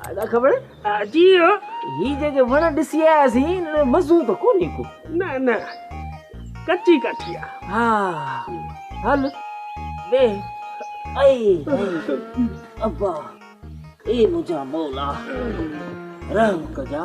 ادا خبر جي هو هي جيڪي وڻ ڏسي آياسين مزو ته ڪونهي ڪو نه نه ڪچي ڪاٺي آ ها هل وي اي ابا اي منهنجا مولا رحم ڪجا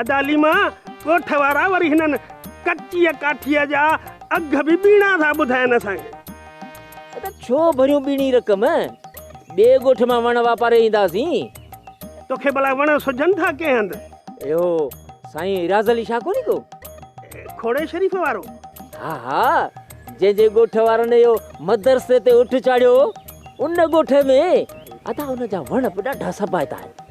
ادا ليما ڳوٺ وارا وري هنن ڪچيء ڪاٺيء جا اگهه به ٻيڻا ٿا ٻڌائين اسان کي. ادا ڇو ڀريون ٻيڻي رقم؟ ٻئي ڳوٺ مان وڻ واپاري اينداسين. توکي ڀلا وڻ سجهن ٿا ڪنهن هنڌ؟ اهو سائين ايراز علي شاهه ڪونهي ڪو؟ کوڙي شريف وارو؟ ها ها جنهن جي ڳوٺ وارن اهو مدرسي تي اٺ چاڙهيو هو ان ڳوٺ ۾. ادا ان جا وڻ به ڏاڍا سبائتا آهن.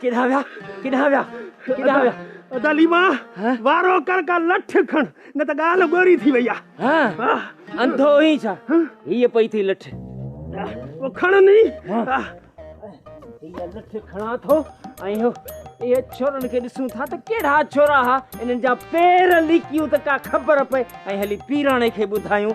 ڪيڏانهن ويا ڪيڏانهن ويا ڪيڏانهن ويا ادا ليما وارو ڪر ڪا لٺ کڻ نه ته ڳالهه ڳوري ٿي وئي آ ها انڌو هي ڇا هي پئي ٿي لٺ او کڻ ني هي لٺ کڻا ٿو ۽ هو اهي ڇورن کي ڏسون ٿا ته ڪهڙا ڇورا ها انهن جا پير ليڪيون ته ڪا خبر پئي ۽ هلي پيراڻي کي ٻڌايون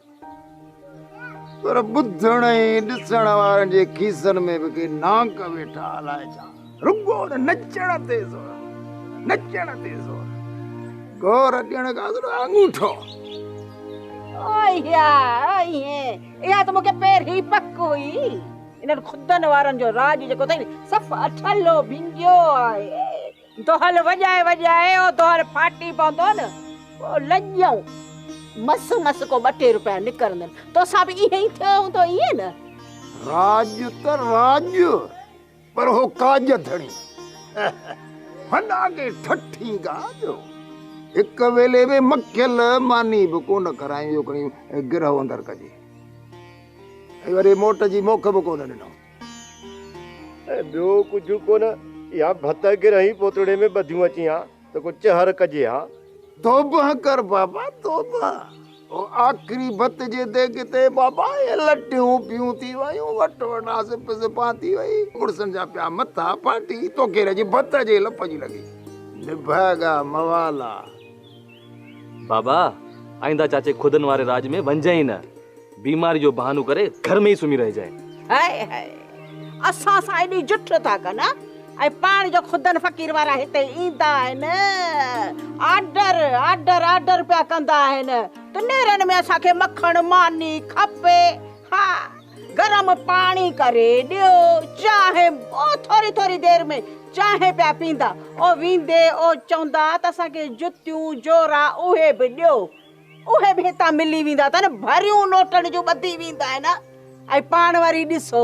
پر ٻڌڻ ۽ ڏسڻ وارن جي کيسن ۾ به ڪي نانگ ويٺا الاء ڇا رڳو نچڻ تي زور نچڻ تي زور گور ڏيڻ کان سواء انگوٺو ايا ايا ته مونکي پهرين پڪ هئي انهن خدن وارن جو راڄ جيڪو اٿئي صف اٺلو ڀنگيو آهي دهل وڄائي وڄائي او دهل ڦاٽي پوندو نه پوء لڄيون مس مس ڪو ٻه ٽي روپيا نڪرندن توسان به ائين ئي ٿيو هوندو ائين نه. راڄ ته راڄ پر هو ڪاڄ ڌڻي هن آڳي ٺٺي ڳاڄ هو هڪ ويلي ۾ مکيل ماني به ڪونه کرايائين جو کڻي گرهه اندر ڪجي ۽ وري موٽ جي موکه به ڪونه ڏنائون. ۽ ٻيو ڪجهه ڪونه، اها ڀت گرهي پوتڙي ۾ ٻڌيون اچين ها ته ڪو چهر ڪجي ها. توبه ڪر بابا توبه، او آخري ڀت جي ديڳ تي بابا اهي لٽيون پيون ٿي ويون، وٽ وٽ آسي پسي پان ٿي وئي، مڙسن جا پيا مٿا ڦاٽي، توکي رڄ ڀت جي لپ جي لڳي. نڀاڳا موالا. بابا آئنده چاچي خدن واري راڄ ۾ وڃجانء ئي نه. بيماري جو بهانو ڪري گهر ۾ ئي سمهي رهجانء. هاء هاء اسان سان ايڏي جٺ ٿا ڪن ۽ پاڻ جو خدن فقير وارا هتي ايندا آهن آرڊر آرڊر آرڊر پيا ڪندا آهن ته نيرن ۾ اسان کي مکڻ ماني کپي. ها گرم پاڻي ڪري ڏيو چانهه او ٿوري ٿوري دير ۾ چانهه پيا پيندا او ويندي او چوندا ته اسان کي جتيون جورا اهي به ڏيو اهي به هتان ملي ويندا اٿن ڀريون لوٽن جون ٻڌي ويندا آهن ۽ پاڻ وري ڏسو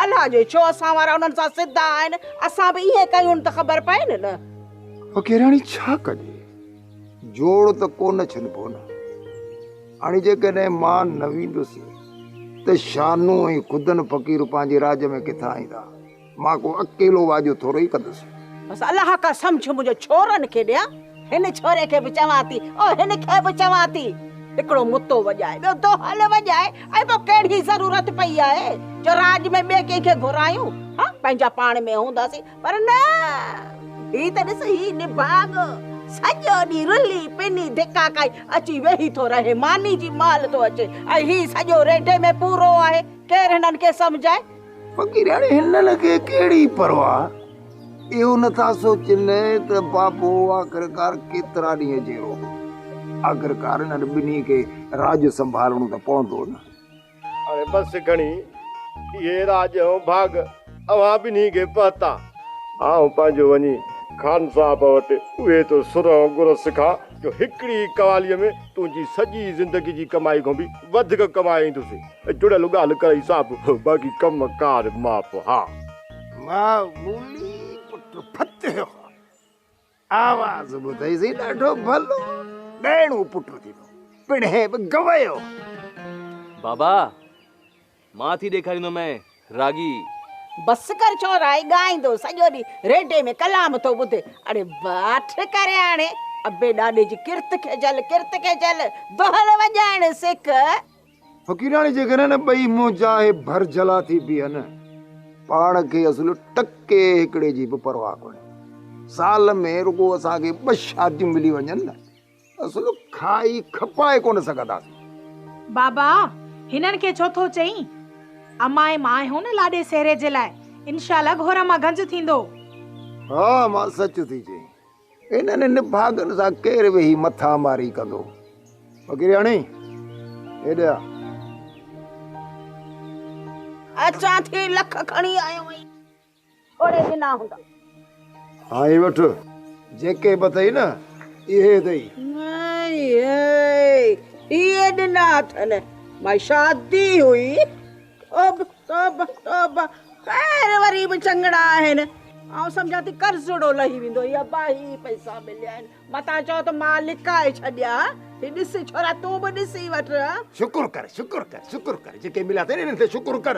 الله جو ڇو اسان وارا انهن سان سڌا آهن اسان به ائين ڪيون ته خبر پئي نه نه فقيراڻي ڇا ڪجي جوڙ ته ڪو نه ڇنبو نه. هاڻي جيڪڏهن مان نه ويندس ته شانو ۽ خدن فقير پنهنجي راڄ ۾ ڪٿان ايندا؟ مان ڪو اڪيلو واڄو ٿورو ئي ڪندس. بس الله ڪا سمجهه منهنجو ڇورن کي ڏيان. هن ڇوري کي به چوان ٿي ۽ هن کي به چوان ٿي. هڪڙو متو وڄائي، ٻيو دهل وڄائي ۽ ٻيو ڪهڙي ضرورت پئي آهي جو راڄ ۾ ٻئي ڪنهن کي گهرايون؟ ها! پنهنجا پاڻ ۾ هونداسين. پر نه! هي ته ڏس هي نڀاڳ سڄو ڏينهن رلي پني ڌڪا کائي اچي ويهي ٿو رهي، ماني جي مال ٿو اچي ۽ هي سڄو ريڍي ۾ پورو آهي، ڪير هنن کي سمجهائي؟ فقيراڻي هنن کي ڪهڙي پرواهه؟ اهو نه ٿا سوچين ته بابو آخرڪار ڪيترا ڏينهن جيئرو؟ آخرڪار انهن ٻنهي کي راڄ سنڀالڻو ته پوندو نه؟ اڙي بس گهڻي اهي راڄ ۽ ڀاڳ اوهان ٻنهي کي پهتا. آئون پنهنجو وڃي خان صاحب وٽ اهي تو سر ۽ گر سکان جو هڪڙي ئي قواليء ۾ تنهنجي سڄي زندگي جي ڪمائي کان به وڌيڪ ڪمائيندس. جڙيل ڳالهه ڪرئي صاحب، باقي ڪم ڪار معاف ها. معمولي پٽ فتح خان. آواز ٻڌئي سي ڏاڍو ڀلو ڏائڻو پٽ ٿيندو پڻهين به گويو. بابا مان ٿي ڏيکاريندو مين راڳي. بس ڪر ڇورائي ڳائيندو سڄو ڏينهن ريڊي ۾ ڪلام ٿو ٻڌي اڙي باٺ ڪري هاڻي ابي ڏاڏي جي ڪرت کي جهل ڪرت کي جهل دهل وڄائڻ سک. فقيراڻي جي گهر نه ٻئي منهن چاهي ڀر جلا ٿي بيهن. پاڻ کي اصل ٽڪي هڪڙي جي به پرواهه ڪونهي. سال ۾ رڳو اسان کي ٻه شاديون ملي وڃن نه اصل کائي کپائي ڪونه سگهنداسين. بابا هنن کي ڇو ٿو چئين؟ امائي مان آهيون نه لاڏي سهري جي لاء انشاء الله گهور مان گهنج ٿيندو. ها ماء سچ ٿي چئين. انهن نڀاڳن سان ڪير ويهي مٿا ماري ڪندو. فقيرياڻي، هيڏي آ. اچان ٿي، لک کڻي آيو آهين. ٿوري ڏنا هوندا. ها هي وٺ. جيڪي به اٿئي نه، اهي اٿئي. ناهي، اهي ڏنا اٿن. مائي شادي هئي. توبه توبه توبه خير وري به چڱڙا آهن آئون سمجهان ٿي قرضڙو لهي ويندو هي ابا هي پئسا مليا آهن متان چئو ته مان لڪائي ڇڏيا هي ڏس ڇورا تون به ڏسي وٺ شڪر ڪر شڪر ڪر شڪر ڪر جيڪي مليا اٿئي انهن تي شڪر ڪر